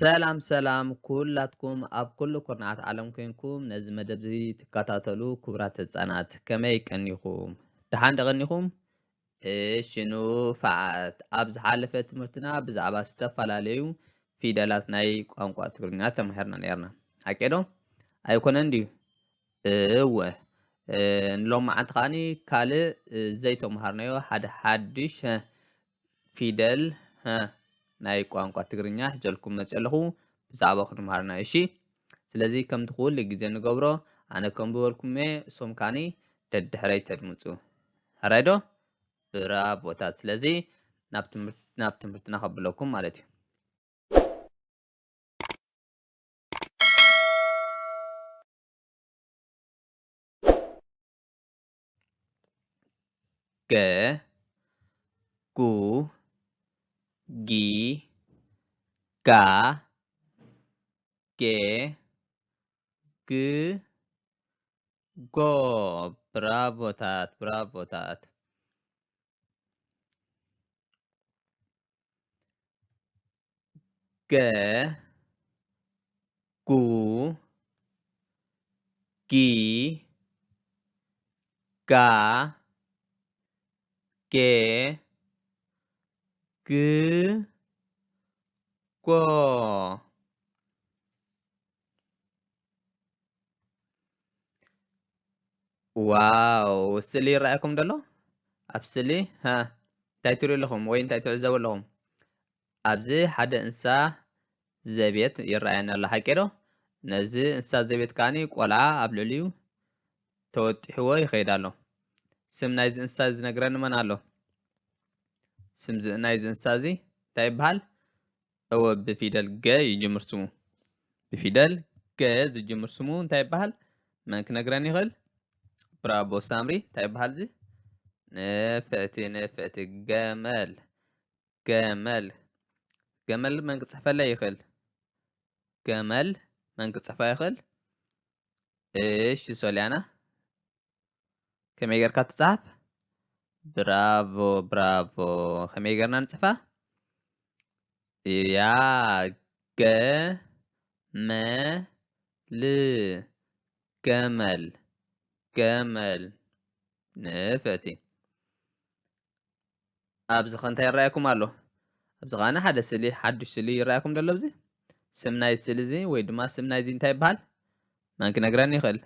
ሰላም ሰላም ኩላትኩም ኣብ ኩሉ ኩርናዓት ዓለም ኮንኩም ነዚ መደብ እዚ ትከታተሉ ክቡራት ህጻናት ከመይ ቀኒኹም ደሓን ደቐኒኹም እሺ ንፋዓት ኣብ ዝሓለፈ ትምህርትና ብዛዕባ ዝተፈላለዩ ፊደላት ናይ ቋንቋ ትግርኛ ተማሂርና ነርና ሓቄዶ ኣይኮነን ድዩ እወ ንሎም መዓንቲ ከዓኒ ካልእ ዘይተምሃርናዮ ሓደ ሓድሽ ፊደል ህ ናይ ቋንቋ ትግርኛ ሒዘልኩም መጽየ ኣለኹ ብዛዕባ ክንምሃርና እሺ ስለዚ ከምቲ ኩሉ ግዜ ንገብሮ ኣነ ከምብበልኩም እየ እሶም ካኒ ደድሕረይ ተድምጹ ሕራይ ዶ ብራቮታት ስለዚ ናብ ትምህርቲ ናብ ትምህርትና ከብለኩም ማለት እዩ ገ ጉ ጊ ጋ ጌ ግ ጎ ብራቮታት ብራቮታት ገ ጉ ጊ ጋ ጌ ግ ጎ ዋው ስእሊ ይረኣየኩም ደሎ ኣብ ስእሊ እንታይ ትሪኡ ኣለኹም ወይ እንታይ ትዕዘቡ ኣለኹም ኣብዚ ሓደ እንስሳ ዘቤት ይረኣየና ኣሎ ሓቂ ዶ ነዚ እንስሳ ዘቤት ከዓኒ ቆልዓ ኣብ ልዕሊኡ ተወጢሕዎ ይኸይድ ኣሎ ስም ናይዚ እንስሳ ዝነግረኒ መን ኣሎ ስም ናይዚ እንስሳ እዚ እንታይ ይበሃል እወ ብፊደል ገ ይጅምር ስሙ። ብፊደል ገ ዝጅምር ስሙ እንታይ ይበሃል? መን ክነግረን ይኽእል? ብራቦ ሳምሪ እንታይ ይበሃል እዚ? ንፍዕቲ ንፍዕቲ ገመል ገመል ገመል መን ክፅሕፈለይ ይኽእል? ገመል መን ክፅሕፋ ይኽእል? እሺ ሶሊያና ከመይ ጌርካ ትጽሓፍ ብራቮ ብራቮ ከመይ ጌርና ንጽፋ እያ ገ መ ል ገመል ገመል ንፈቲ ኣብዚ ከ እንታይ ይረኣየኩም ኣሎ? ኣብዚ ከኣ ሓደ ስእሊ ሓዱሽ ስእሊ ይረኣየኩም ደሎ ኣብዚ? ስም ናይ ስእሊ እዚ ወይ ድማ ስም ናይዚ እንታይ ይበሃል? መን ክነግረኒ ይኽእል?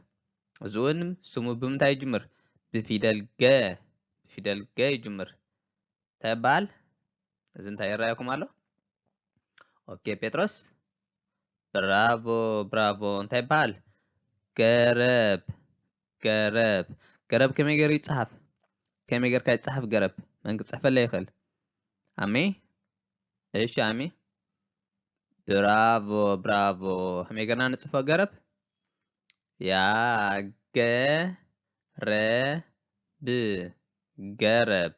እዚ እውን ስሙ ብምንታይ ይጅምር? ብፊደል ገ ብፊደል ገ ይጅምር። እንታይ ይበሃል? እዚ እንታይ ይረኣየኩም ኣሎ? ኦኬ ጴጥሮስ ብራቮ ብራቮ እንታይ ይበሃል? ገረብ ገረብ ገረብ ከመይ ገይሩ ይጽሓፍ ከመይ ጌርካ ይጽሓፍ ገረብ መን ክጽሕፈለይ ይኽእል ኣሜ እሺ ኣሜ ብራቮ ብራቮ ከመይ ጌርና ንጽፎ ገረብ ያገረብ ገረብ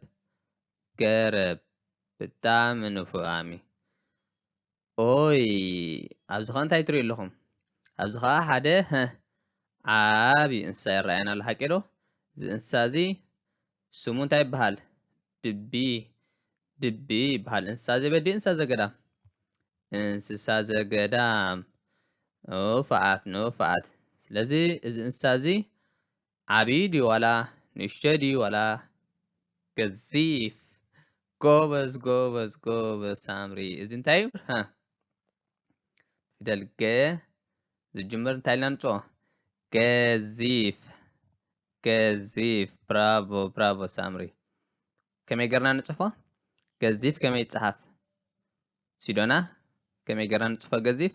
ገረብ ብጣዕሚ ንፉዕ ኣሜ ኦይ ኣብዚ ከ እንታይ ትሪኡ ኣለኹም ኣብዚ ከኣ ሓደ ሀ ዓብዩ እንስሳ ይረኣየና ኣሎ ሓቂ ዶ እዚ እንስሳ እዚ ስሙ እንታይ ይበሃል ድቢ ድቢ ይበሃል እንስሳ ዘቤት ድዩ እንስሳ ዘገዳም እንስሳ ዘገዳም ንፉዓት ንፉዓት ስለዚ እዚ እንስሳ እዚ ዓቢ ድዩ ዋላ ንእሽቶ ድዩ ዋላ ገዚፍ ጎበዝ ጎበዝ ጎበዝ ሳምሪ እዚ እንታይ እዩ ሃ ፊደል ገ ዝጅምር እንታይ ኢልና ንፅኦ ገዚፍ ገዚፍ ብራቮ ብራቮ ሳምሪ ከመይ ገርና ንጽፎ ገዚፍ ከመይ ይጽሓፍ ሲዶና ከመይ ገርና ንጽፎ ገዚፍ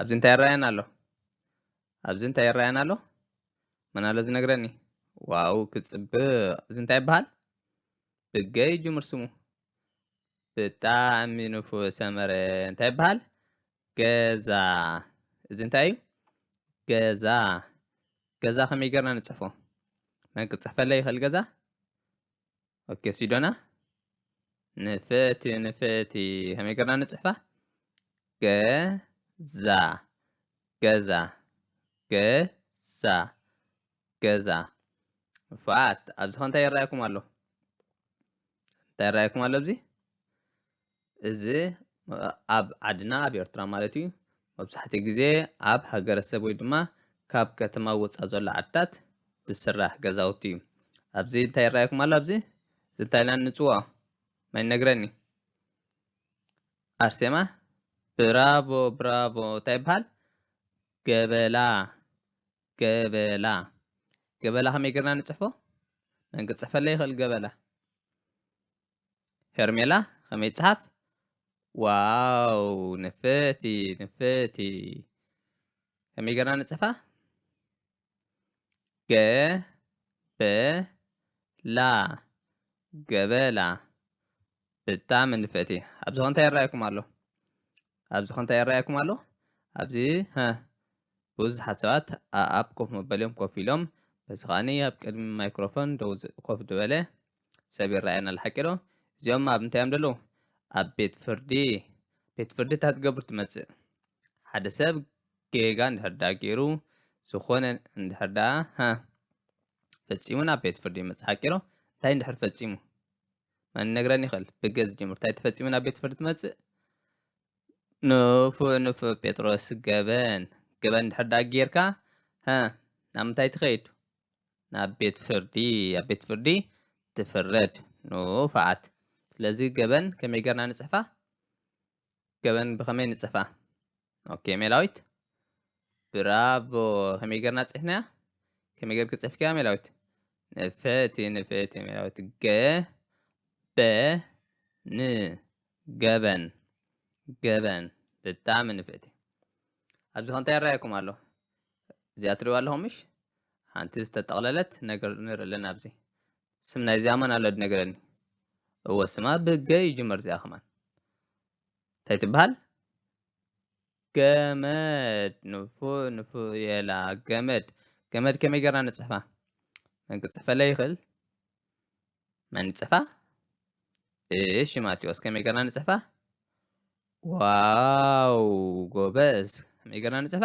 ኣብዚ እንታይ ይረኣየና ኣሎ ኣብዚ እንታይ ይረኣየና ኣሎ መን ኣሎ ዝነግረኒ ዋው ክፅብቕ እዚ እንታይ ይበሃል ብገይ ጅምር ስሙ ብጣዕሚ ንፉ ሰመረ እንታይ ይበሃል ገዛ እዚ እንታይ እዩ ገዛ ገዛ ከመይ ጌርና ንፅሕፎ መን ክፅሕፈለይ ይኽእል ገዛ ኦኬ ሲዶና ንፍቲ ንፍቲ ከመይ ገርና ንጽሕፋ ገዛ ገዛ ገዛ ገዛ ንፋት ኣብዚ ከ እንታይ ይረኣየኩም ኣሎ እንታይ ይረኣየኩም ኣሎ ኣብዚ እዚ ኣብ ዓድና ኣብ ኤርትራ ማለት እዩ መብዛሕትኡ ግዜ ኣብ ሃገረሰብ ወይ ድማ ካብ ከተማ ወፃእ ዘሎ ዓድታት ዝስራሕ ገዛውቲ እዩ ኣብዚ እንታይ ይረኣየኩም ኣሎ ኣብዚ እዚ እንታይ ኢልና ንፅውዖ ማይ ነግረኒ ኣርሴማ ብራቮ ብራቮ እንታይ ይበሃል ገበላ ገበላ ገበላ ከመይ ጌርና ንፅሕፎ መን ክፅሕፈለይ ይኽእል ገበላ ሄርሜላ ከመይ ይጽሓፍ ዋው ንፍእቲ ንፍእቲ ከመይ ገርና ንጽሕፋ ገ በ ላ ገበላ ብጣዕሚ ንፍእቲ ኣብዚ እንታይ ይረኣየኩም ኣሎ ኣብዚ ከ እንታይ ይረኣየኩም ኣሎ? ኣብዚ ሀ ብዙሓት ሰባት ኣኣብ ኮፍ መበሊኦም ኮፍ ኢሎም፣ በዚ ከኣኒ ኣብ ቅድሚ ማይክሮፎን ደው ኮፍ ድበለ ሰብ ይረኣየና ኣሎ ሓቂ ዶ? እዚኦም ኣብ እንታይ እዮም ደለዉ? ኣብ ቤት ፍርዲ። ቤት ፍርዲ እንታይ ትገብር ትመጽእ? ሓደ ሰብ ጌጋ እንድሕር ደኣ ገይሩ ዝኾነ እንድሕር ደኣ ሀ ፈጺሙ ናብ ቤት ፍርዲ ይመጽእ ሓቂ ዶ? እንታይ እንድሕር ፈጺሙ? መን ይነግረኒ ይኽእል? ብገዝ ጀምሩ እንታይ ተፈጺሙ ናብ ቤት ፍርዲ ትመጽእ? ንፉዕ ንፉዕ ጴጥሮስ ገበን ገበን ድሕር ደኣ ጌርካ ሀ ናብ ምንታይ ትኸይድ? ናብ ቤት ፍርዲ ኣብ ቤት ፍርዲ ትፍረድ ንፉዓት ስለዚ ገበን ከመይ ጌርና ንጽሕፋ? ገበን ብኸመይ ንጽሕፋ? ኦኬ ሜላዊት ብራቮ ከመይ ጌርና ጽሕፍናያ ከመይ ጌርኪ ጽሕፍክያ ሜላዊት ንፍዕቲ ንፍዕቲ ሜላዊት ገ በ ን ገበን ገበን ብጣዕሚ ንፍዕቲ ኣብዚ ከ እንታይ ይረኣየኩም ኣሎ እዚኣ ትሪእዋ ኣለኹም ምሽ ሓንቲ ዝተጠቕለለት ነገር ንርኢ ኣለና ኣብዚ ስም ናይዚኣ መን ኣሎ ድነግረኒ እወ ስማ ብገ ይጅመር እዚኣ ከማን እንታይ ትበሃል ገመድ ንፉ ንፉ የላ ገመድ ገመድ ከመይ ገርና ንጽሕፋ መን ክጽሕፈለይ ይኽእል መን ይጽሕፋ እሺ ማቴዎስ ከመይ ገርና ንጽሕፋ ዋው ጎበዝ ከመይ ገርና ንጽሕፋ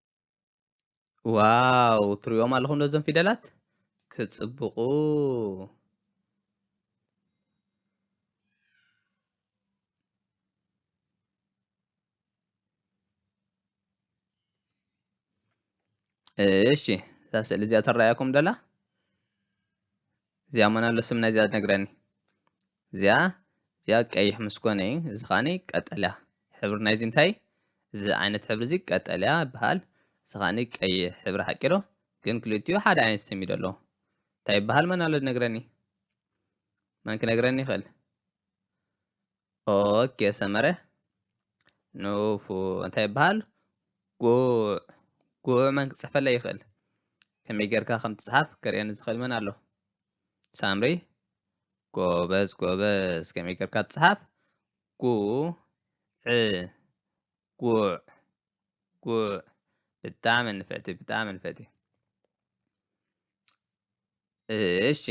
ዋው ትሪኦም ኣለኹም ነዞም ፊደላት ክጽብቑ እሺ እዛ ስእሊ እዚኣ ትረኣየኩም ደላ እዚኣ ሞናሎ ስም ናይዚኣ ነግረኒ እዚኣ እዚኣ ቀይሕ ምስ ኮነ እዩ እዚ ከዓኒ ቀጠልያ ሕብሪ ናይዚ እንታይ እዚ ዓይነት ሕብሪ እዚ ቀጠልያ ይበሃል እዚ ከዓኒ ቀይሕ ሕብሪ ሓቂ ዶ ግን ክልቲኡ ሓደ ዓይነት ስም እዩ ደሎ እንታይ ይበሃል መናሎ ነግረኒ መን ክነግረኒ ይኽእል ኦኬ ሰመረ ንፉ እንታይ ይበሃል ጉዕ ጉዕ መን ክፅሕፈለ ይኽእል ከመይ ጌርካ ከም ትፅሓፍ ክርእየኒ ዝኽእል መን ኣሎ ሳምሪ ጎበዝ ጎበዝ ከመይ ጌርካ ትፅሓፍ ጉዕ ጉዕ ጉዕ ብጣዕሚ ንፍዕቲ ብጣዕሚ ንፍዕቲ እሺ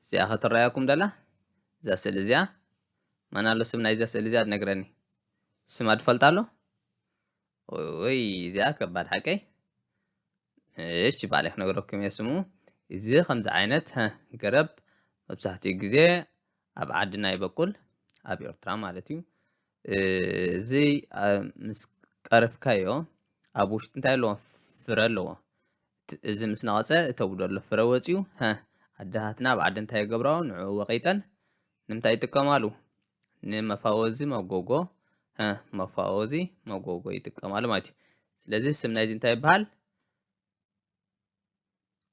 እዚኣ ክትረኣየኩም ደላ እዛ ስእሊ እዚኣ መን ኣሎ ስም ናይዛ ስእሊ እዚኣ ትነግረኒ ስማ ትፈልጣ ኣሎ ወይ እዚኣ ከባድ ሓቀይ እሺ ባዕለ ክነግረኩም እየ ስሙ እዚ ከምዚ ዓይነት ገረብ መብዛሕትኡ ግዜ ኣብ ዓድና ይበቁል ኣብ ኤርትራ ማለት እዩ እዚ ምስ ቀርፍካዮ ኣብ ውሽጢ እንታይ ኣለዎ ፍረ ኣለዎ እዚ ምስ ነቐፀ እተጉዶ ኣሎ ፍረ ወፅዩ ሀ ኣደታትና ኣብ ዓዲ እንታይ ይገብራዎ ንዕኡ ወቂጠን ንምንታይ ይጥቀማሉ ንመፋወዚ መጎጎ ሀ መፋወዚ መጎጎ ይጥቀማሉ ማለት እዩ ስለዚ ስም ናይዚ እንታይ ይበሃል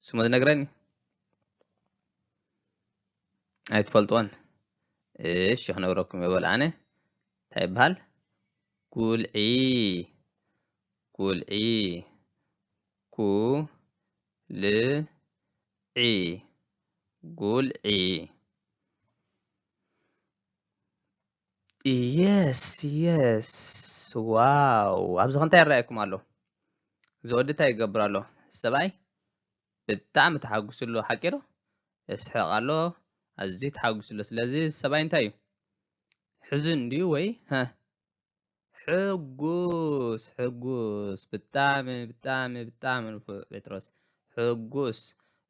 ስሙ ትነግረኒ ኣይትፈልጦን እሺ ክነግረኩም የበል ኣነ እንታይ ይበሃል ጉልዒ ጉልዒ ጉልዒ ጉልዒ የስ የስ ዋው ኣብዚ ከንታይ ይረኣየኩም ኣሎ እዚ ወዲ እንታይ ይገብር ኣሎ ሰብኣይ ብጣዕሚ ተሓጒሱ ኣሎ ሓቂ ዶ እስሕቕ ኣሎ ኣዝዩ ተሓጒሱ ኣሎ ስለዚ ሰብኣይ እንታይ እዩ ሕዙን ድዩ ወይ ሕጉስ ሕጉስ ብጣዕሚ ብጣዕሚ ብጣዕሚ ንፉዕ ጴጥሮስ ሕጉስ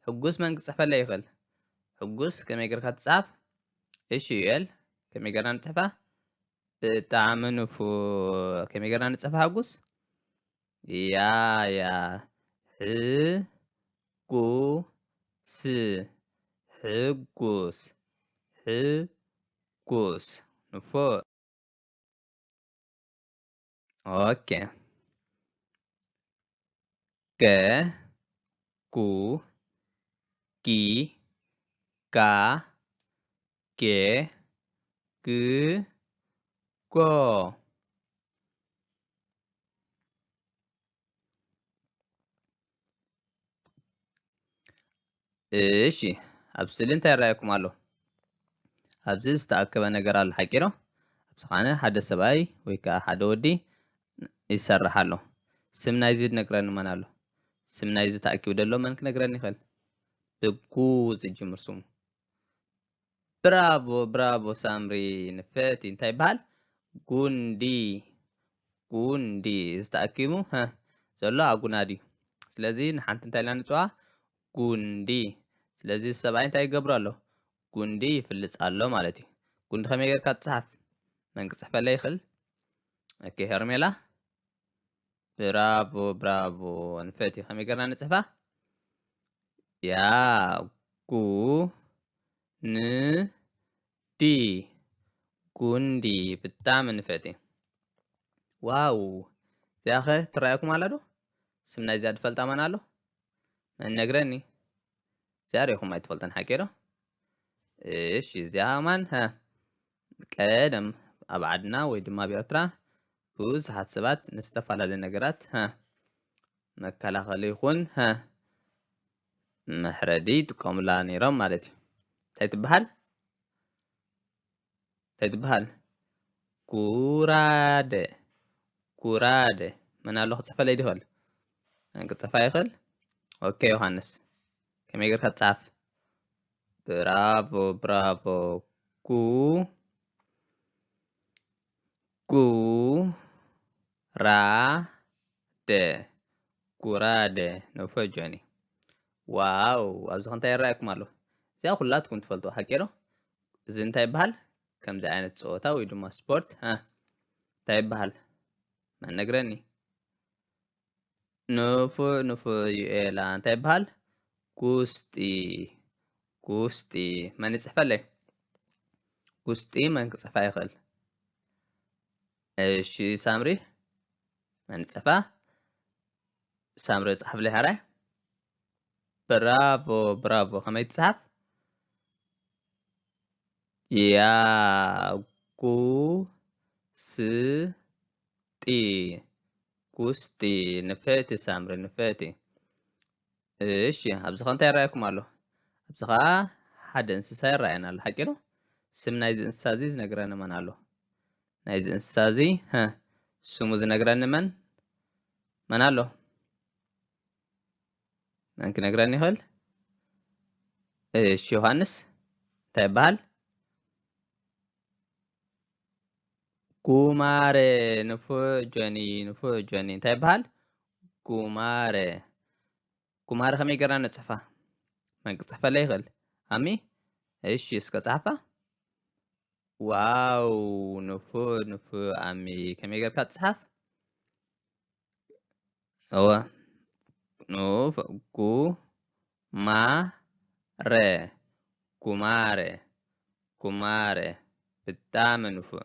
ሕጉስ መን ክጽሕፈለ ይኽእል ሕጉስ ከመይ ጌርካ ትጽሓፍ እሺ ዩኤል ከመይ ጌርና ንጽሕፋ ብጣዕሚ ንፉዕ ከመይ ጌርና ንጽሕፋ ሕጉስ ያ ያ ሕጉስ ሕጉስ ሕጉስ ንፉዕ ኦኬ ገ ጉ ጊ ጋ ጌ ግ ጎ እሺ ኣብ ስእሊ እንታይ ይረኣየኩም ኣሎ? ኣብዚ ዝተኣከበ ነገር ኣሎ ሓቂ ዶ? ኣብዚ ኸዓነ ሓደ ሰብኣይ ወይ ከዓ ሓደ ወዲ ይሰርሕ ኣሎ። ስም ናይዚ ዝነግረኒ መን ኣሎ? ስም ናይዚ ተኣኪቡ ዘሎ መን ክነግረኒ ይኽእል? ብጉ ዝጅምር ስሙ ብራቮ ብራቮ ሳምሪ ንፍዕቲ እንታይ ይበሃል ጉንዲ ጉንዲ እዚ ተኣኪቡ ሀ ዘሎ ኣጉና ድዩ ስለዚ ንሓንቲ እንታይ ኢልና ንፅዋ ጉንዲ ስለዚ ሰብኣይ እንታይ ይገብሮ ኣሎ ጉንዲ ይፍልፅ ኣሎ ማለት እዩ ጉንዲ ከመይ ጌርካ ትፅሓፍ መን ክፅሕፈለይ ይኽእል ኦኬ ሄርሜላ ብራቮ ብራቮ ንፈትዮ ከመይ ገርና ንጽሕፋ ያጉ ን ዲ ጉንዲ ብጣዕሚ ንፈትዮ ዋው እዚኣ ኸ ትረኣየኩም ኣላ ዶ ስም ናይዚኣ ዝፈልጣ መን ኣሎ መን ነግረኒ እዚኣ ሪኢኹም ኣይትፈልጡን ሓቂ ዶ እሺ እዚኣ ማን ቀደም ኣብ ዓድና ወይ ድማ ኣብ ኤርትራ ብዙሓት ሰባት ንዝተፈላለዩ ነገራት ሀ መከላኸሊ ይኹን ሀ መሕረዲ ይጥቀሙላ ነይሮም ማለት እዩ። እንታይ ትበሃል? እንታይ ትበሃል? ጉራደ ጉራደ መን ኣሎ ክፅሕፈለይ ይኽእል? ክፅሕፋ ይኽእል? ኦኬ ዮሃንስ ከመይ ጌርካ ጻፍ ብራቮ ብራቮ ጉ ጉ ራ ደ ጉራደ ነፈ ጆኒ ዋው ኣብዚ ከንታይ ይረኣየኩም ኣሎ እዚኣ ኩላትኩም ትፈልጡ ሓቂ ዶ እዚ እንታይ ይበሃል ከምዚ ዓይነት ፀወታ ወይ ድማ ስፖርት እንታይ ይበሃል መነግረኒ ንፉዕ ንፉዕ ዩኤላ እንታይ ይበሃል ጉስጢ ጉስጢ መን ይፅሕፈለይ ጉስጢ መን ክፅሕፋ ይኽእል እሺ ሳምሪ መን ይፅሕፋ ሳምሪ ፃሕፍለይ ሃራይ ብራቮ ብራቮ ከመይ ትፅሓፍ ያ ጉ ስ ጢ ኩስ ጢ ንፍዕቲ ሳምሪ ንፍዕቲ እሺ ኣብዚ ኸ እንታይ ይረኣየኩም ኣሎ ኣብዚ ኸኣ ሓደ እንስሳ ይረኣየና ኣሎ ሓቂ ዶ ስም ናይዚ እንስሳ እዚ ዝነግረኒ መን ኣሎ ናይዚ እንስሳ እዚ ስሙ ዝነግረኒ መን መን ኣሎ መን ክነግረኒ ይኽእል እሺ ዮሃንስ እንታይ ይበሃል ጉማረ ንፉዕ ጆኒ ንፉዕ ጆኒ እንታይ ይበሃል ጉማረ ጉማረ ከመይ ገርና ንጽሕፋ መን ክጽሕፈለ ይኽእል ኣሚ እሺ እስከ ጻሕፋ ዋው ንፉዕ ንፉዕ ኣሚ ከመይ ገርካ ትጽሓፍ እወ ንኡፍ ጉማረ ጉማረ ጉማረ ብጣዕሚ ንፉዕ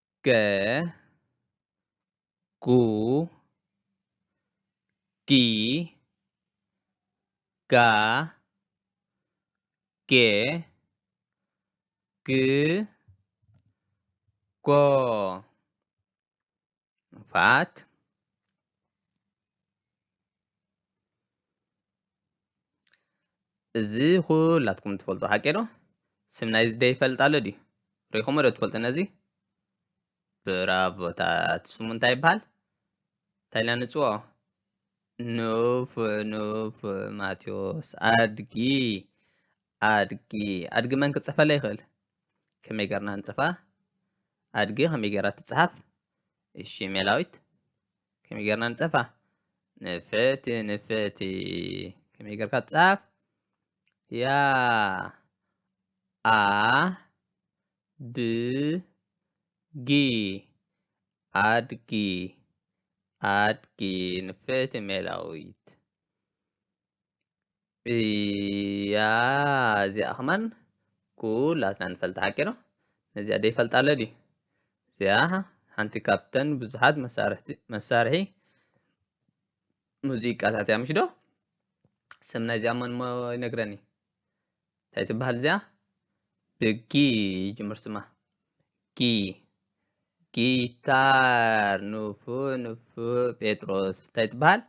ገ ጉ ጊ ጋ ጌ ግ ጎ ፋት እዚ ኩላትኩም ትፈልጡ ሓቂ ዶ ስም ናይዚ ደ ይፈልጥ ኣሎ ድዩ ሪኢኹም ዶ ትፈልጡ ነዚ ብራቮታት ስሙ እንታይ ይበሃል እንታይ ኢልና ንፅዎ ኑፍ ኑፍ ማቴዎስ ኣድጊ ኣድጊ ኣድጊ መን ክፅፈለ ይኽእል ከመይ ገርና ንፅፋ ኣድጊ ከመይ ገራ ትፅሓፍ እሺ ሜላዊት ከመይ ጌርና ንጸፋ ንፍዕቲ ንፍዕቲ ከመይ ጌርካ ትጻፍ ያ ኣ ድ ጊ ኣድጊ ኣድጊ ንፍዕቲ ሜላዊት እያ እዚኣ ከማን ኩላትና ንፈልጣ ሓቂ ዶ ነዚኣ ደይፈልጣ ኣሎ ድዩ እዚኣ ሓንቲ ካብተን ብዙሓት መሳርሒ ሙዚቃታት እያ ምሽ ዶ ስም ናይዚኣ መን እሞ ይነግረኒ እንታይ ትበሃል እዚኣ ብጊ ይጅምር ስማ ጊ ጊታር ንፉ ንፉ ጴጥሮስ እንታይ ትበሃል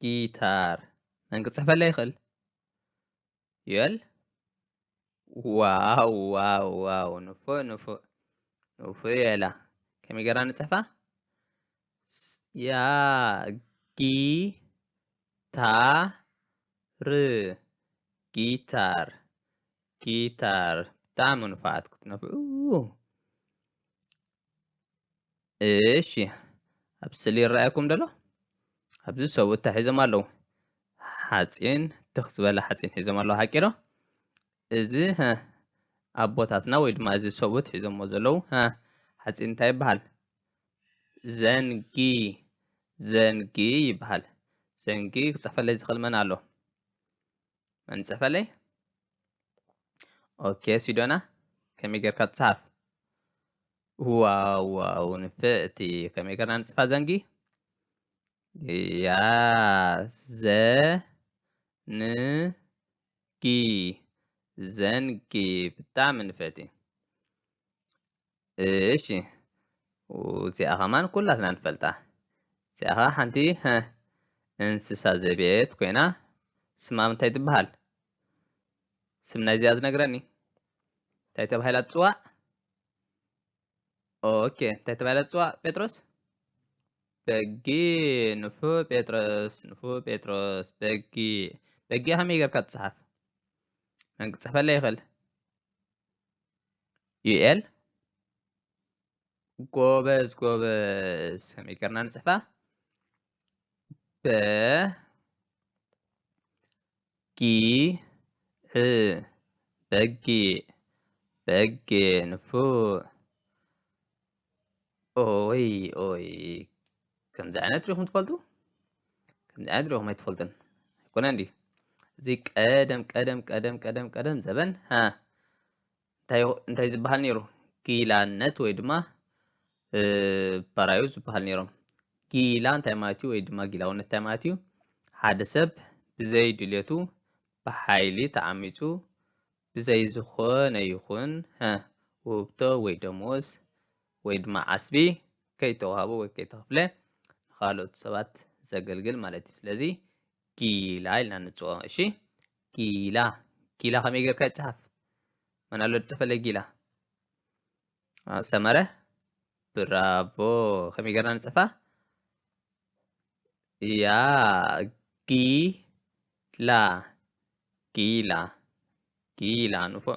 ጊታር መን ክፅሕፈለ ይኽእል ዩኤል ዋው ዋው ዋው ንፉ ንፉ ንፉ ዩኤላ ከመይ ጌርና ንፅሕፋ ጊታር ጊታር ብጣዕሚ ንፉዓት ክትነፍዑ እሺ ኣብ ስእሊ ይረኣየኩም ደሎ ኣብዚ ሰብኡት እንታይ ሒዞም ኣለዉ ሓፂን ትኽ ዝበለ ሓፂን ሒዞም ኣለዉ ሓቂ ዶ እዚ ሃህ ኣቦታትና ወይ ድማ እዚ ሰቡት ሒዞሞ ዘለዉ ሃህ ሓጺን እንታይ ይበሃል ዘንጊ ዘንጊ ይበሃል ዘንጊ ክጸፈለይ ዝኽእል መን ኣሎ መን ጸፈለይ ኦኬ ሲዶና ከመይ ጌርካ ትጽሓፍ ዋው ዋው ንፍዕቲ ከመይ ጌርና ንጽፋ ዘንጊ ያ ዘ ን ጊ ዘንጊ ብጣዕሚ ንፍዕቲ እሺ እዚኣ ከማን ኩላትና ንፈልጣ እዚኣ ከዓ ሓንቲ እንስሳ ዘቤት ኮይና ስማ እንታይ ትበሃል ስም ናይዚኣ ዝነግረኒ እንታይ ተባሂላ ትፅዋዕ ኦኬ እንታይ ተባሂላ ትፅዋዕ ጴጥሮስ በጊ ንፉ ጴጥሮስ ንፉ ጴጥሮስ በጊ በጊ ከመይ ጌርካ ትፅሓፍ መን ክፅሕፈለ ይኽእል ዩኤል ጎበዝ ጎበዝ ከመይ ጌርና ንፅሕፋ በ ጊዕ በጊዕ በጊዕ ንፉዕ ኦይ ኦይ ከምዚ ዓይነት ሪኹም ትፈልጡ ከምዚ ዓይነት ሪኹም ኣይትፈልጡን ኣይኮነን ድዩ እዚ ቀደም ቀደም ቀደም ቀደም ቀደም ዘበን ሃ እንታይ እዩ ዝበሃል ነይሩ ጊላነት ወይ ድማ ባራዩ ዝበሃል ነይሮም ጊላ እንታይ ማለት እዩ ወይ ድማ ጊላውነት እንታይ ማለት እዩ ሓደ ሰብ ብዘይ ድልየቱ ብሓይሊ ተዓሚፁ ብዘይ ዝኾነ ይኹን ውህብቶ ወይ ደሞዝ ወይ ድማ ዓስቢ ከይተዋህቦ ወይ ከይተኸፍለ ንካልኦት ሰባት ዘገልግል ማለት እዩ ስለዚ ጊላ ኢልና ንፅኦ እሺ ጊላ ጊላ ከመይ ጌርካ ይፅሓፍ መን ኣሎ ዝፅፈለይ ጊላ ሰመረ ብራቮ ከመይ ጌርና ንፅፋ ያ ጊላ ጊላ ጊላ ንፉዕ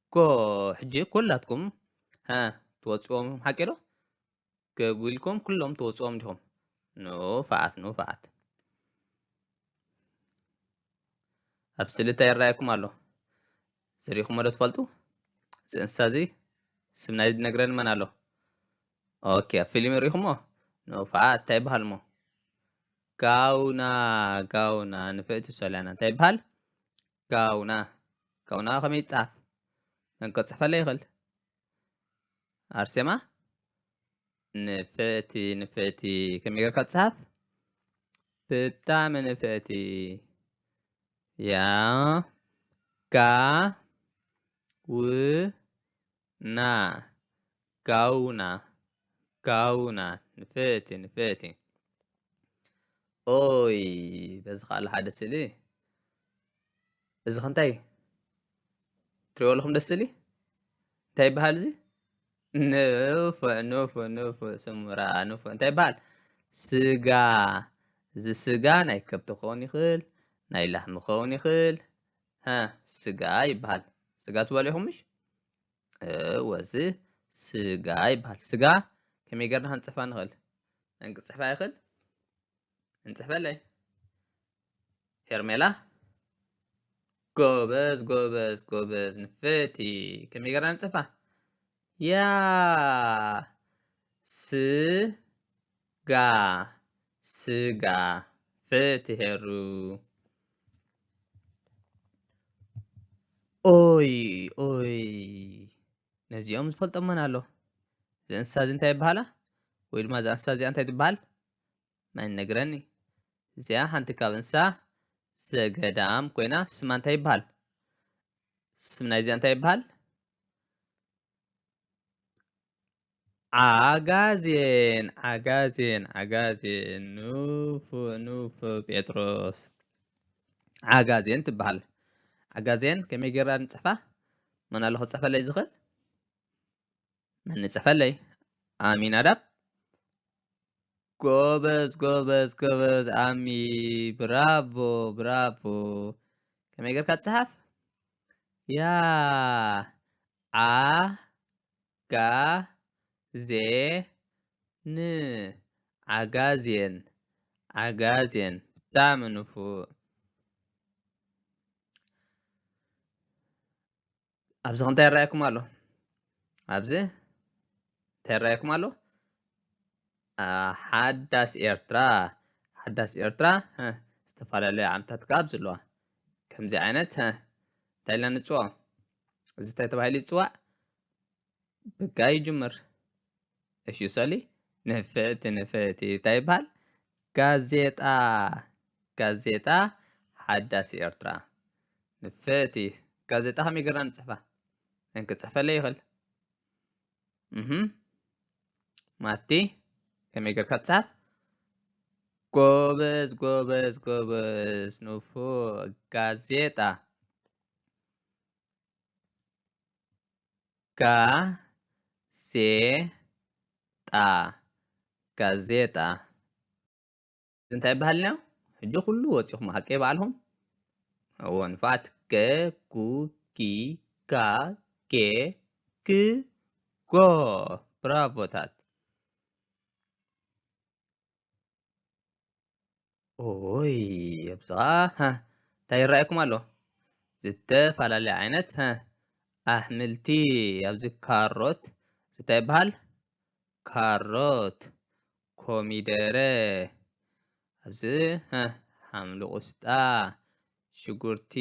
እኮ ሕጂ ኩላትኩም ሃ ትወጽዎም ሓቂ ዶ ገጉልኩም ኩሎም ትወጽዎም ዲኹም ንፋዓት ንፋዓት ኣብ ስእሊ እንታይ ይረኣየኩም ኣሎ ዝሪእኹሞ ዶ ትፈልጡ እዚ እንስሳ እዚ ስም ናይ ዝነግረኒ መን ኣሎ ኦኬ ኣብ ፊልም ሪእኹሞ ንፋዓት እንታይ ይበሃል እሞ ጋውና ጋውና ንፍዕቲ ሶልያና እንታይ ይበሃል ጋውና ጋውና ከመይ ይጻፍ መን ከጽሕፈለይ ይኽእል ኣርሴማ ንፍዕቲ ንፍዕቲ ከመይ ጌርካ ትጽሓፍ ብጣዕሚ ንፍዕቲ ያ ጋ ው ና ጋውና ጋውና ንፈቲ ንፈቲ ኦይ በዚ ካል ሓደ ስሊ እዚ ከንታይ ትሪኦ ኣለኹም ደስ ስሊ እንታይ ይበሃል እዚ ንፎ ንፎ ንፎ ስሙራ ንፎ እንታይ ይበሃል ስጋ እዚ ስጋ ናይ ከብቲ ክኸውን ይኽእል ናይ ላህሚ ክኸውን ይኽእል ሀ ስጋ ይበሃል። ስጋ ትበልዑ ኢኹምሽ? እወ እዚ ስጋ ይበሃል። ስጋ ከመይ ጌርና ክንፅሕፋ ንኽእል? መን ክፅሕፋ ይኽእል? እንፅሕፈለይ ሄርሜላ ጎበዝ ጎበዝ ጎበዝ ንፍቲ ከመይ ጌርና ንፅሕፋ? ያ ስ ጋህ ስጋ ፍትሄሩ። ኦይ ኦይ ነዚኦም ዝፈልጦም መን ኣሎ? እዚ እንስሳ እዚ እንታይ ይበሃላ? ወይ ድማ እዛ እንስሳ እዚኣ እንታይ ትበሃል? መን ነግረኒ? እዚኣ ሓንቲ ካብ እንስሳ ዘገዳም ኮይና ስማ እንታይ ይበሃል? ስም ናይዚኣ እንታይ ይበሃል? ዓጋዜን ዓጋዜን ዓጋዜን ኑፍ ኑፍ ጴጥሮስ ዓጋዜን ትበሃል ዓጋዜን ከመይ ጌርና ንፅሕፋ መን ኣሎ ክፅሕፈለይ ዝኽእል መን ንፅሕፈለይ ኣሚን ኣዳብ ጎበዝ ጎበዝ ጎበዝ ኣሚ ብራቮ ብራቮ ከመይ ጌርካ ትፅሓፍ ያ ዓ ን ዓጋዜን ዓጋዜን ብጣዕሚ ንፉእ ኣብዚ ከ እንታይ ይረኣየኩም ኣሎ ኣብዚ እንታይ ይረኣየኩም ኣሎ ሓዳስ ኤርትራ ሓዳስ ኤርትራ ዝተፈላለየ ዓምታት ካብ ዘለዋ ከምዚ ዓይነት እንታይ ኢልና ንፅውዖ እዚ እንታይ ተባሂሉ ይፅዋዕ? ብጋ ይጅምር። እሺ ይውሰሊ ንፍዕቲ ንፍዕቲ እንታይ ይበሃል? ጋዜጣ ጋዜጣ ሓዳስ ኤርትራ ንፍዕቲ ጋዜጣ ከመይ ጌርና ንፅሕፋ? መን ክፅሕፈለይ ይኽእል? ማቲ ከመይ ጌርካ ትፅሓፍ? ጎበዝ ጎበዝ ጎበዝ ንፉዕ ጋዜጣ ጋዜጣ ጋዜጣ እንታይ ይበሃል ኢና ሕጂ ኩሉ ወፂኹም ሃቀ በዓልኹም እዎ ንፋት ገ ጉ ጊ ጋ ጌ ግ ጎ ብራቮታት ኦይ ኣብዝኣ እንታይ ይረኣየኩም ኣሎ ዝተፈላለየ ዓይነት ኣሕምልቲ ኣብዚ ካሮት እንታይ ይበሃል ካሮት ኮሚደረ ኣብዚ ሓምሊ ቁስጣ ሽጉርቲ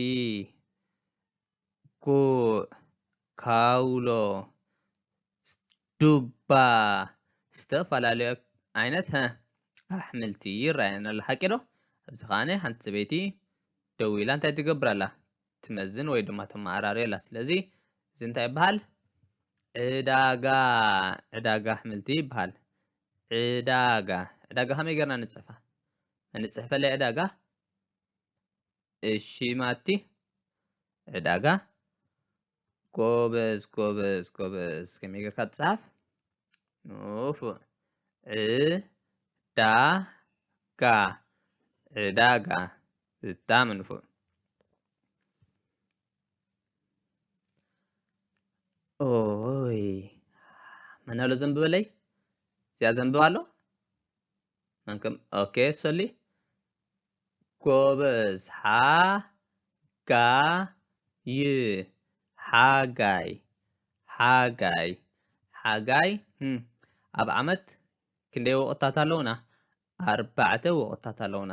ጉዕ፣ ካውሎ፣ ዱባ ዝተፈላለዩ ዓይነት ኣሕምልቲ ይረኣየና ኣሎ ሓቂ ዶ? ኣብዚ ከዓኒ ሓንቲ ሰበይቲ ደው ኢላ እንታይ ትገብር ኣላ ትመዝን ወይ ድማ ተመዓራሪ ኣላ ስለዚ እዚ እንታይ ይበሃል ዕዳጋ ዕዳጋ ኣሕምልቲ ይበሃል ዕዳጋ ዕዳጋ ከመይ ገርና ንፅሕፋ ንፅሕፈለይ ዕዳጋ እሺ ማቲ ዕዳጋ ጎበዝ ጎበዝ ጎበዝ ከመይ ጌርካ ትጽሓፍ ንፉዕ ዕዳጋ ዕዳጋ ብጣዕሚ ንፉዕ ኦይ መን ኣሎ ዘንብበለይ እዚኣ ዘንብብ ኣሎ መንከም ኦኬ ሰሊ ጎበዝ ሓ ጋ ይ ሓጋይ ሓጋይ ሓጋይ ኣብ ዓመት ክንደይ ወቕትታት ኣለውና ኣርባዕተ ወቕትታት ኣለውና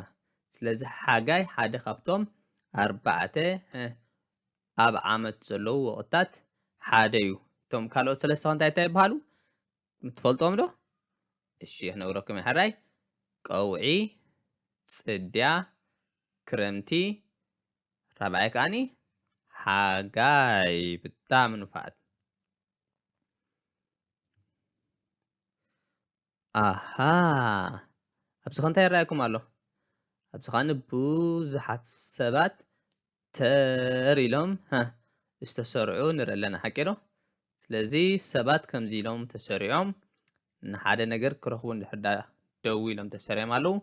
ስለዚ ሓጋይ ሓደ ካብቶም ኣርባዕተ ኣብ ዓመት ዘለዉ ወቕትታት ሓደ እዩ እቶም ካልኦት ሰለስተ እንታይ እንታይ ይበሃሉ ትፈልጦም ዶ እሺ ክነግረኩም ሕራይ ቀውዒ ፅድያ ክረምቲ ራብዓይ ከዓኒ ሓጋይ ብጣዕሚ ንፋዓት ኣሃ ኣብዚ ከ እንታይ ይረኣየኩም ኣሎ ኣብዚ ከዓኒ ብዙሓት ሰባት ተር ኢሎም ዝተሰርዑ ንርኢ ኣለና ሓቂ ዶ ስለዚ ሰባት ከምዚ ኢሎም ተሰሪዖም ንሓደ ነገር ክረኽቡ እንድሕር ዳ ደው ኢሎም ተሰሪዖም ኣለዉ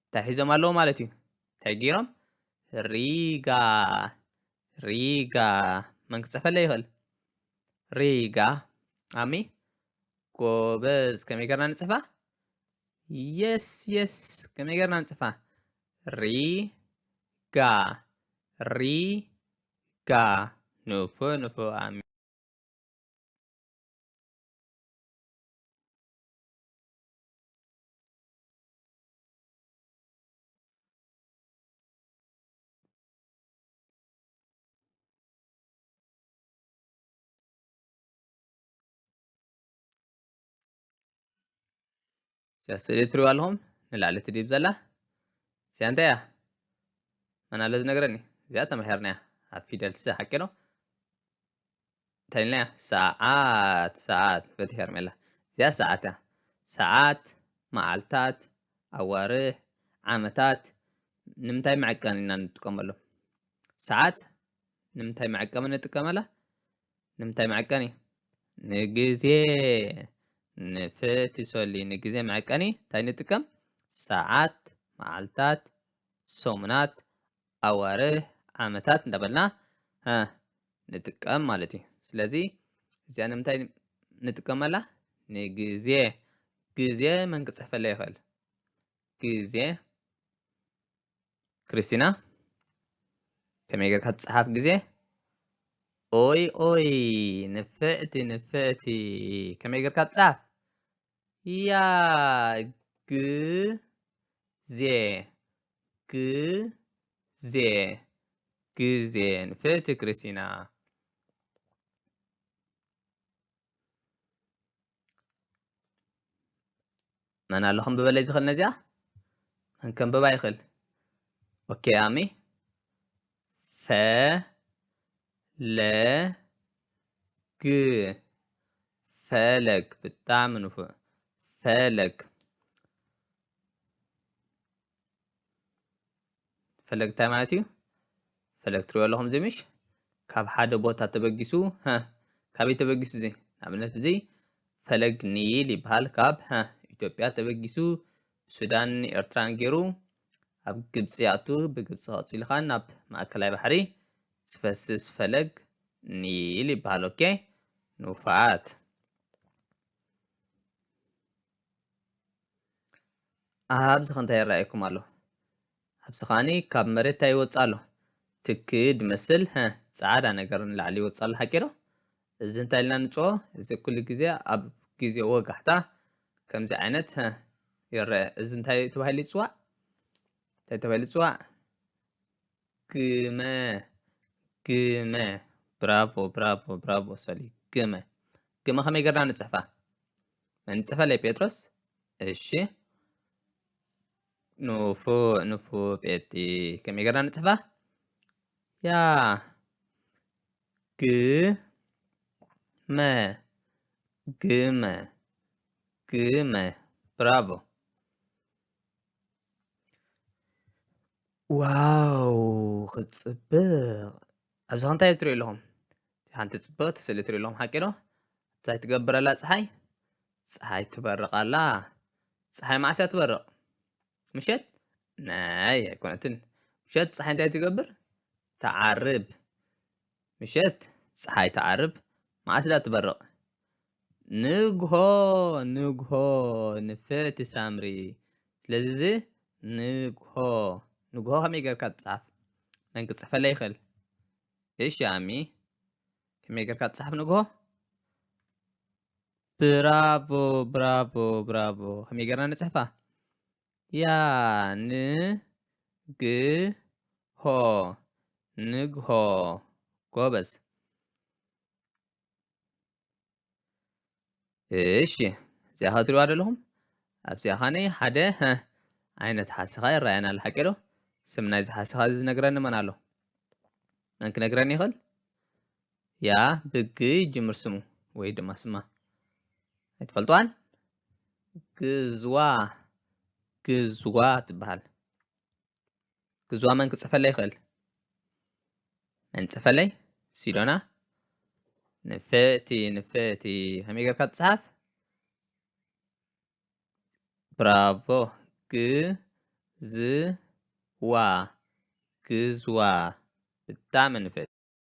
እንታይ ሒዞም ኣለዉ ማለት እዩ እንታይ ገይሮም ሪጋ ሪጋ መን ክፅሕፈለ ይኽእል ሪጋ ኣሚ ጎበዝ ከመይ ገርና ንፅሕፋ የስ የስ ከመይ ገርና ንፅሕፋ ሪጋ ሪጋ ንፉዕ ንፉዕ ኣሚ እዚኣ ስእሊ እትሪእዋ ኣለኹም ንላዕሊ ትድይብ ዘላ እዚኣ እንታይ እያ መን ኣሎ ዝነገረኒ እዚኣ ተምርሒርና እያ ኣብ ፊደል ስ ሓቂ ዶ እንታይ ኢልና እያ ሰዓት ሰዓት ንፈትሒ ሄርሜላ እዚኣ ሰዓት እያ ሰዓት መዓልታት ኣዋርሕ ዓመታት ንምንታይ መዐቀኒ ኢና ንጥቀመሉ ሰዓት ንምንታይ መዐቀሚ ንጥቀመላ ንምንታይ መዐቀኒ ንግዜ ንፍእቲ ሶሊ ንግዜ መዐቀኒ እንታይ ንጥቀም ሰዓት መዓልታት ሰሙናት ኣዋርህ ዓመታት እንዳበልና ንጥቀም ማለት እዩ ስለዚ እዚኣ ንምንታይ ንጥቀመላ ንግዜ ግዜ መን ክፅሕፈለይ ይኽእል ግዜ ክርስቲና ከመይ ጌርካ ትጽሓፍ ግዜ ኦይ ኦይ ንፍዕቲ ንፍዕቲ ከመይ ጌርካ ትጽሓፍ ያ ግዜ ግዜ ግዜ ንፍዕቲ ክርስቲና መን ኣሎ ክንብበለይ ዝኽእል ነዚኣ መን ከንብባ ይኽእል ኦኬ ኣሚ ፈ ለ ግ ፈለግ ብጣዕሚ ንፉዕ ፈለግ ፈለግ እንታይ ማለት እዩ ፈለግ ትሪኦ ኣለኹም እዚ ምሽ ካብ ሓደ ቦታ ተበጊሱ ካበይ ተበጊሱ እዚ ንኣብነት እዚ ፈለግ ኒል ይበሃል ካብ ኢትዮጵያ ተበጊሱ ሱዳን ኤርትራን ገይሩ ኣብ ግብፂ ኣቱ ብግብፂ ቀፂሉ ኸዓ ናብ ማእከላይ ባሕሪ ዝፈስስ ፈለግ ኒል ይበሃል ኦኬ ንውፋዓት ኣብዚ ከ እንታይ ይረኣየኩም ኣሎ ኣብዚ ከዓኒ ካብ መሬት እንታይ ይወፅእ ኣሎ ትኪ ድመስል ፃዕዳ ነገር ንላዕሊ ይወፅእ ኣሎ ሓቂዶ እዚ እንታይ ኢልና ንፅኦ እዚ ኩሉ ግዜ ኣብ ግዜ ወጋሕታ ከምዚ ዓይነት ይረአ እዚ እንታይ ተባሂሉ ይፅዋዕ እንታይ ተባሂሉ ይፅዋዕ ግመ ግመ ብራቮ ብራቮ ብራቮ ሰሊ ግመ ግመ ከመይ ገርና ንጽሕፋ መንጽፈለይ ጴጥሮስ እሺ ንፉ ንፉ ጴጢ ከመይ ገርና ንጽሕፋ ያ ግ መ ግመ ግመ ብራቮ ዋው ክትጽብቕ ኣብዛ እንታይ ትሪኡ ኣለኹም ሓንቲ ጽብቕቲ ስእሊ ትሪኡ ኣለኹም ሓቂ ዶ ኣብዛ ትገብረላ ፀሓይ ፀሓይ ትበርቕ ኣላ ፀሓይ መዓስ እያ ትበርቕ ምሸት ናይ ኣይኮነትን ምሸት ፀሓይ እንታይ ትገብር ትዓርብ ምሸት ጸሓይ ትዓርብ መኣስ ድኣ ትበርቕ ንግሆ ንግሆ ንፍዕቲ ሳምሪ ስለዚ እዚ ንግሆ ንግሆ ከመይ ጌርካ ትጽሓፍ መን ክጽሕፈለይ ይኽእል እሺ ኣሚ ከመይ ጌርካ ትጽሓፍ ንግሆ ብራቮ ብራቮ ብራቮ ከመይ ጌርና ንጽሕፋ ያንግሆ ንግሆ ጎበዝ። እሺ እዚኣ ኸ ትሪእዋ ደለኹም ኣብዚኣ ኻነይ ሓደ ሀ ዓይነት ሓሰኻ ይረኣየና ኣሎ ሓቂ ዶ ስም ናይዚ ሓሰኻ እዚ ዝነግረኒ መን ኣሎ መን ክነግረኒ ይኽእል ያ ብግ ይጅምር ስሙ ወይ ድማ ስማ ኣይትፈልጥዋን ግዝዋ ግዝዋ ትበሃል ግዝዋ መን ክፅሕፈለይ ይኽእል መን ፅሕፈለይ ሲዶና ንፍእቲ ንፍእቲ ከመይ ጌርካ ትፅሓፍ ብራቮ ግዝዋ ግዝዋ ብጣዕሚ ንፍእቲ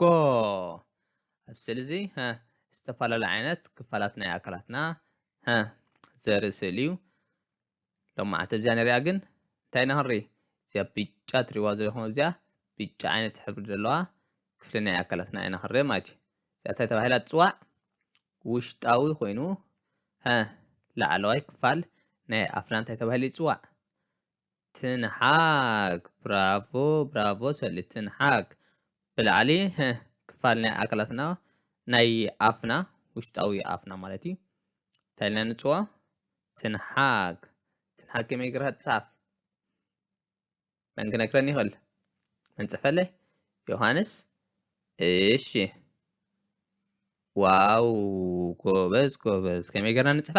ጎ ኣብ ስእሊ እዚ ዝተፈላለዩ ዓይነት ክፋላት ናይ ኣካላትና ዘርኢ ስእሊ እዩ ሎማዓንቲ እብዚኣ ንሪኣ ግን እንታይ ኢና ክንርኢ እዚኣ ብጫ ትሪዋ ዘለኹም ኣብዚኣ ብጫ ዓይነት ሕብሪ ዘለዋ ክፍሊ ናይ ኣካላትና ኢና ክንርኢ ማለት እዩ እዚኣ እንታይ ተባሂላ ትፅዋዕ ውሽጣዊ ኮይኑ ላዕለዋይ ክፋል ናይ ኣፍና እንታይ ተባሂሉ ይፅዋዕ ትንሓግ ብራቮ ብራቮ ሰሉ ትንሓግ ብላዕሊ ህህ ክፋል ናይ ኣካላትና ናይ ኣፍና ውሽጣዊ ኣፍና ማለት እዩ እንታይ ኢልና ንፅዋ ትንሓግ ትንሓግ ከመይ ጌርካ ትፅሓፍ መን ክነግረኒ ይኽእል መን ፅሕፈለይ ዮሃንስ እሺ ዋው ጎበዝ ጎበዝ ከመይ ጌርና ንፅሕፋ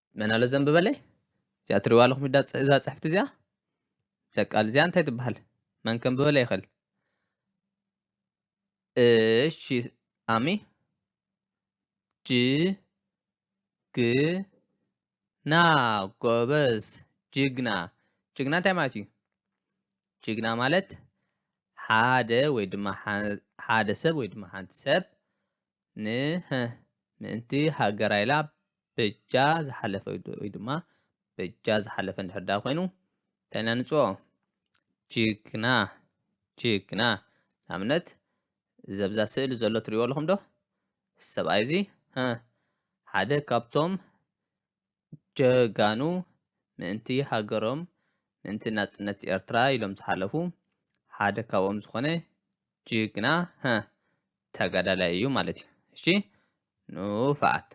መን ኣሎ ዘንብበለይ እዚኣ ትሪዋ ኣለኹም እዛ ፅሕፍቲ እዚኣ እዛ ቃል እዚኣ እንታይ ትበሃል መን ከንብበለ ይኽእል እሺ ኣሚ ጅ ግ ና ጎበዝ ጅግና ጅግና እንታይ ማለት እዩ ጅግና ማለት ሓደ ወይ ድማ ሓደ ሰብ ወይ ድማ ሓንቲ ሰብ ን ህ ምእንቲ ሃገራ ኢላ በጃ ዝሓለፈ ወይ ድማ በጃ ዝሓለፈ እንድሕር ድኣ ኮይኑ እንታይ ኢና ንጽኦ ጅግና ጅግና ንኣብነት እዚ ኣብዛ ስእሊ ዘሎ ትሪእዎ ኣለኹም ዶ ሰብኣይ እዚ ህ ሓደ ካብቶም ጀጋኑ ምእንቲ ሃገሮም ምእንቲ ናጽነት ኤርትራ ኢሎም ዝሓለፉ ሓደ ካብኦም ዝኾነ ጅግና ሀ ተጋዳላይ እዩ ማለት እዩ እሺ ንፉዓት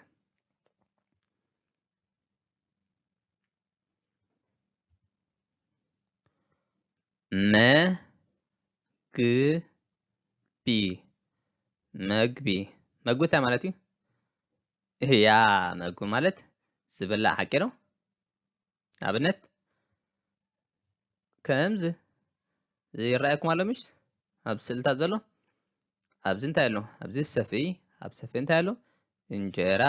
መግቢ መግቢ መግቢ እንታይ ማለት እዩ እህያ መግቢ ማለት ዝብላዕ ሓቂ ዶ ኣብነት ከምዚ ይረኣየኩም ኣሎ ምሽ ኣብ ስእልታት ዘሎ ኣብዚ እንታይ ኣሎ ኣብዚ ሰፊ ኣብ ሰፊ እንታይ ኣሎ እንጀራ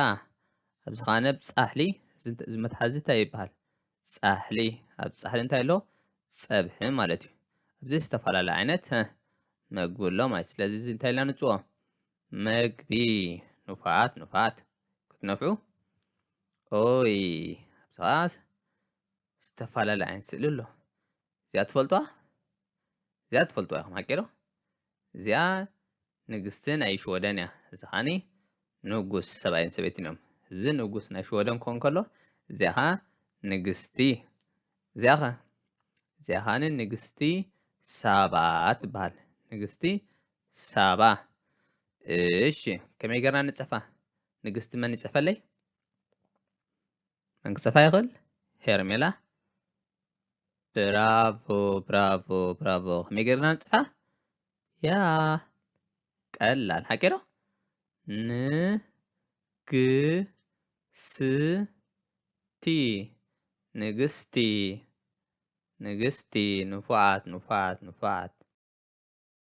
ኣብዚ ከዓ ነብ ፃሕሊ እዚ መትሓዚ እንታይ ይበሃል ፃሕሊ ኣብ ፃሕሊ እንታይ ኣሎ ፀብሒ ማለት እዩ ኣብዚ ዝተፈላለዩ ዓይነት መግቢ ኣሎ ማለት ስለዚ እዚ እንታይ ኢልና ንፅዎ መግቢ ኑፋት ኑፋት ክትነፍዑ ኦይ ኣብዝኻስ ዝተፈላለየ ዓይነት ስእሊ ኣሎ እዚኣ ትፈልጡዋ እዚኣ ትፈልጡዋ ኢኹም ሓቂዶ እዚኣ ንግስቲ ናይ ሽወደን እያ እዚ ኸዓኒ ንጉስ ሰብኣይን ሰበይትን እዮም እዚ ንጉስ ናይ ሽወደን ክኾን ከሎ እዚኣ ኸዓ ንግስቲ እዚኣ ኸ እዚኣ ኸዓኒ ንግስቲ ሳባ ትበሃል ንግስቲ ሳባ እሺ ከመይ ገርና ንጸፋ ንግስቲ መን ይጸፈለይ መን ክጸፋ ይኽእል ሄርሜላ ብራቮ ብራቮ ብራቮ ከመይ ገርና ንጽፋ ያ ቀላል ሓቂ ዶ ንግስቲ ንግስቲ ንግስቲ ንፉዓት ንፉዓት ንፉዓት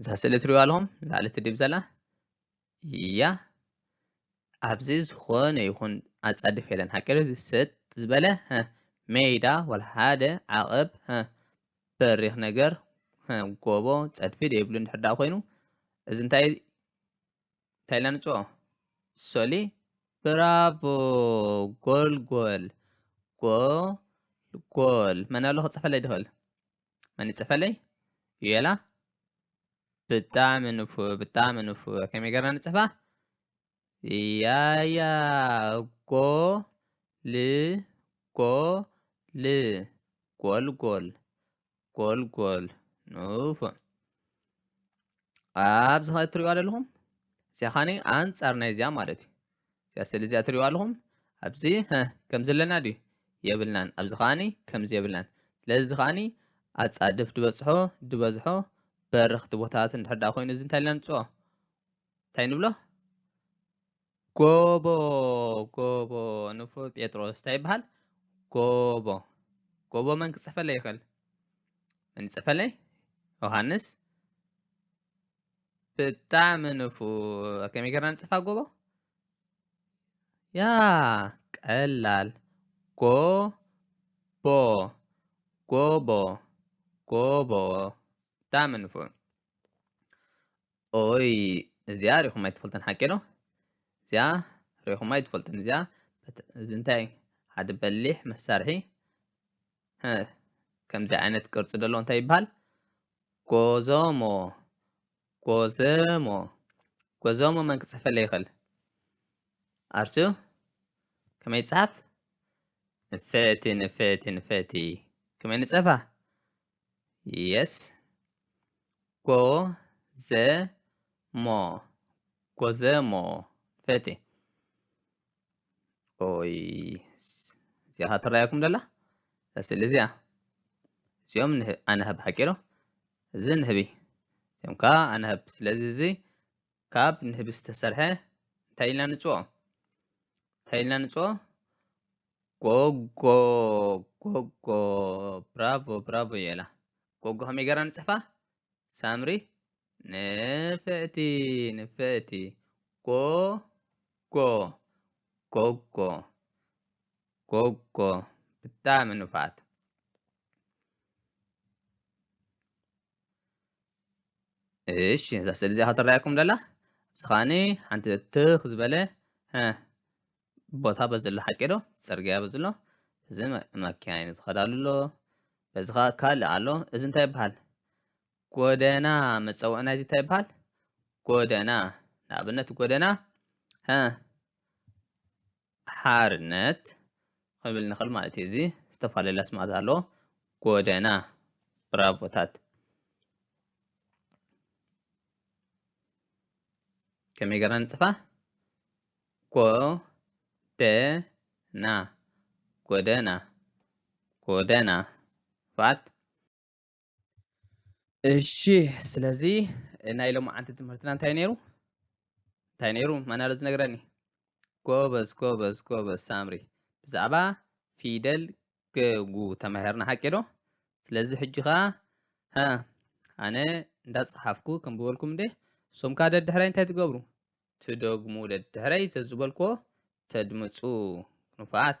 እዛ ስእሊ ትሪእዋ ኣለኹም ላዕሊ ትድብ ዘላ እያ ኣብዚ ዝኾነ ይኹን ኣጻድፍ የለን ሃገር ዝሰጥ ዝበለ ሜዳ ወላ ሓደ ዓቐብ በሪኽ ነገር ጎቦ ጸድፊ ደይብሉ እንድሕር ደኣ ኮይኑ እዚ እንታይ እንታይ ኢልና ንጽኦ ሶሊ ብራቮ ጎልጎል ጎልጎል መን ኣሎ ክጽሕፈለይ ድኽእል መን ይጽፈለይ ዩኤላ ብጣዕሚ ንፉዕ ብጣዕሚ ንፉዕ ከመይ ገርና ንጽሕፋ ያያ ጎ ል ጎ ል ጎልጎል ጎልጎል ንፉዕ ኣብዚ ኸ እትሪእዋ ዘለኹም እዚኣ ኸዓኒ ኣንጻር ናይ እዚኣ ማለት እዩ እዚኣ ስእሊ እዚኣ እትሪእዋ ኣለኹም ኣብዚ ከም ዘለና ድዩ የብልናን ኣብዚ ኸዓኒ ከምዚ የብልናን ስለዚ ኸዓኒ ኣጻድፍ ድበጽሖ ድበዝሖ በረኽቲ ቦታታት እንድሕር ደኣ ኮይኑ እዚ እንታይ ኢልና ንጽኦ እንታይ ንብሎ ጎቦ ጎቦ ንፉዕ ጴጥሮስ እንታይ ይበሃል? ጎቦ ጎቦ መን ክጽሕፈለይ ይኽእል? መን ይጽሕፈለይ? ዮሃንስ ብጣዕሚ ንፉዕ። ከመይ ጌርና ንጽፋ ጎቦ? ያ ቀላል ጎቦ ጎቦ ጎቦ ብጣዕሚ ንፉዕ። ኦይ እዚኣ ሪኹም ኣይትፈልጥን ሓቂ ዶ እዚኣ ሪኹም ኣይትፈልጥን እዚኣ እዚ እንታይ ሓደ በሊሕ መሳርሒ ከምዚ ዓይነት ቅርፂ ደሎ እንታይ ይበሃል ጎዞሞ ጎዘሞ ጎዞሞ መን ክፅሕፈለ ይኽእል ኣርሱ ከመይ ይፅሓፍ ንፍዕቲ ንፍዕቲ ንፍዕቲ ከመይ ንፀፋ የስ ጎ ዘ ሞ ጎዘሞ ፈቴ ኦይ እዚኣ ትረኣየኩም ደላ ስእሊ እዚኣ እዚኦም ኣነህብ ሓቂሮ እዚ ንህቢ እዚኦም ከዓ ኣነህብ ስለዚ እዚ ካብ ንህቢ ዝተሰርሐ እንታይ ኢልና ንፅኦ እንታይ ኢልና ንፅኦ ጎጎ ጎጎ ብራቮ ብራቮ የላ ጎጎ ከመይ ገራ ንፅሕፋ ሳምሪ ንፍዕቲ ንፍዕቲ ጎጎ ጎጎ ጎጎ ብጣዕሚ ንፋት እሺ እዛ ስእሊ እዚኣ ትረኣየኩም ደላ እዚ ከዓኒ ሓንቲ ትኽ ዝበለ ቦታ በዚ ኣሎ ሓቂ ዶ ፅርግያ በዚ ኣሎ እዚ መኪና እዩ ዝኸዳሉ ኣሎ በዚ ከዓ ካልእ ኣሎ እዚ እንታይ ይበሃል ጎደና መፀውዒ ናይዚ እንታይ ይበሃል ጎደና ንኣብነት ጎደና ሓርነት ክብል ንኽእል ማለት እዩ። እዚ ዝተፈላለላ ስማት ኣሎ ጎደና ብራቮታት ከመይ ገርና ንጽፋ ጎደና ጎደና ጎደና ፋት እሺ ስለዚ ናይ ሎማዓንቲ ትምህርትና እንታይ ነይሩ እንታይ ነይሩ ማን ኣሎ ዝነግረኒ ጎበዝ ጎበዝ ጎበዝ ሳምሪ ብዛዕባ ፊደል ገጉ ተማሂርና ሓቂ ዶ ስለዚ ሕጂ ከዓ ሀ ኣነ እንዳፀሓፍኩ ክንብበልኩም እንደ እሶም ከዓ ደድሕረይ እንታይ ትገብሩ ትደግሙ ደድሕረይ ዘዝበልኮ ተድምፁ ንፉዓት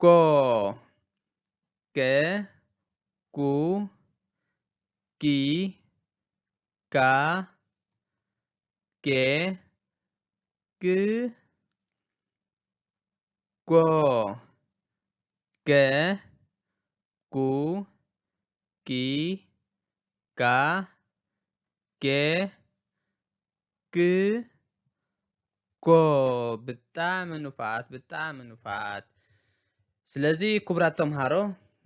ጎ ገ ጉ ጊ ጋ ጌ ግ ጎ ገ ቁ ቂ ቃ ቄ ግ ጎ ብጣዕሚ ንፉዓት ብጣዕሚ ንፉዓት ስለዚ ክቡራት ተምሃሮ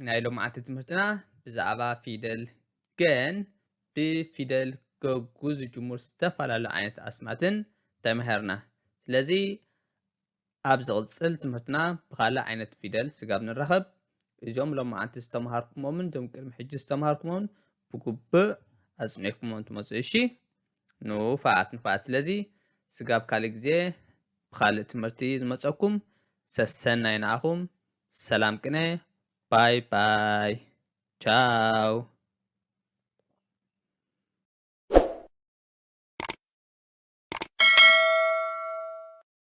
ናይ ሎምዓንቲ ትምህርትና ብዛዕባ ፊደል ገን ብፊደል ገጉ ዝጅምሩ ዝተፈላለዩ ዓይነት ኣስማትን ተማሂርና ስለዚ ኣብ ዝቕጽል ትምህርትና ብኻልእ ዓይነት ፊደል ስጋብ ንራኸብ እዞም ሎማዓንቲ ዝተምሃርኩሞምን እዞም ቅድሚ ሕጂ ዝተምሃርኩሞምን ብጉብእ ኣጽኒዕኩሞም ትመጹ እሺ ንፋዓት ንፋዓት ስለዚ ስጋብ ካልእ ግዜ ብኻልእ ትምህርቲ ዝመጸኩም ሰሰናይ ንዓኹም ሰላም ቅነ ባይ ባይ ቻው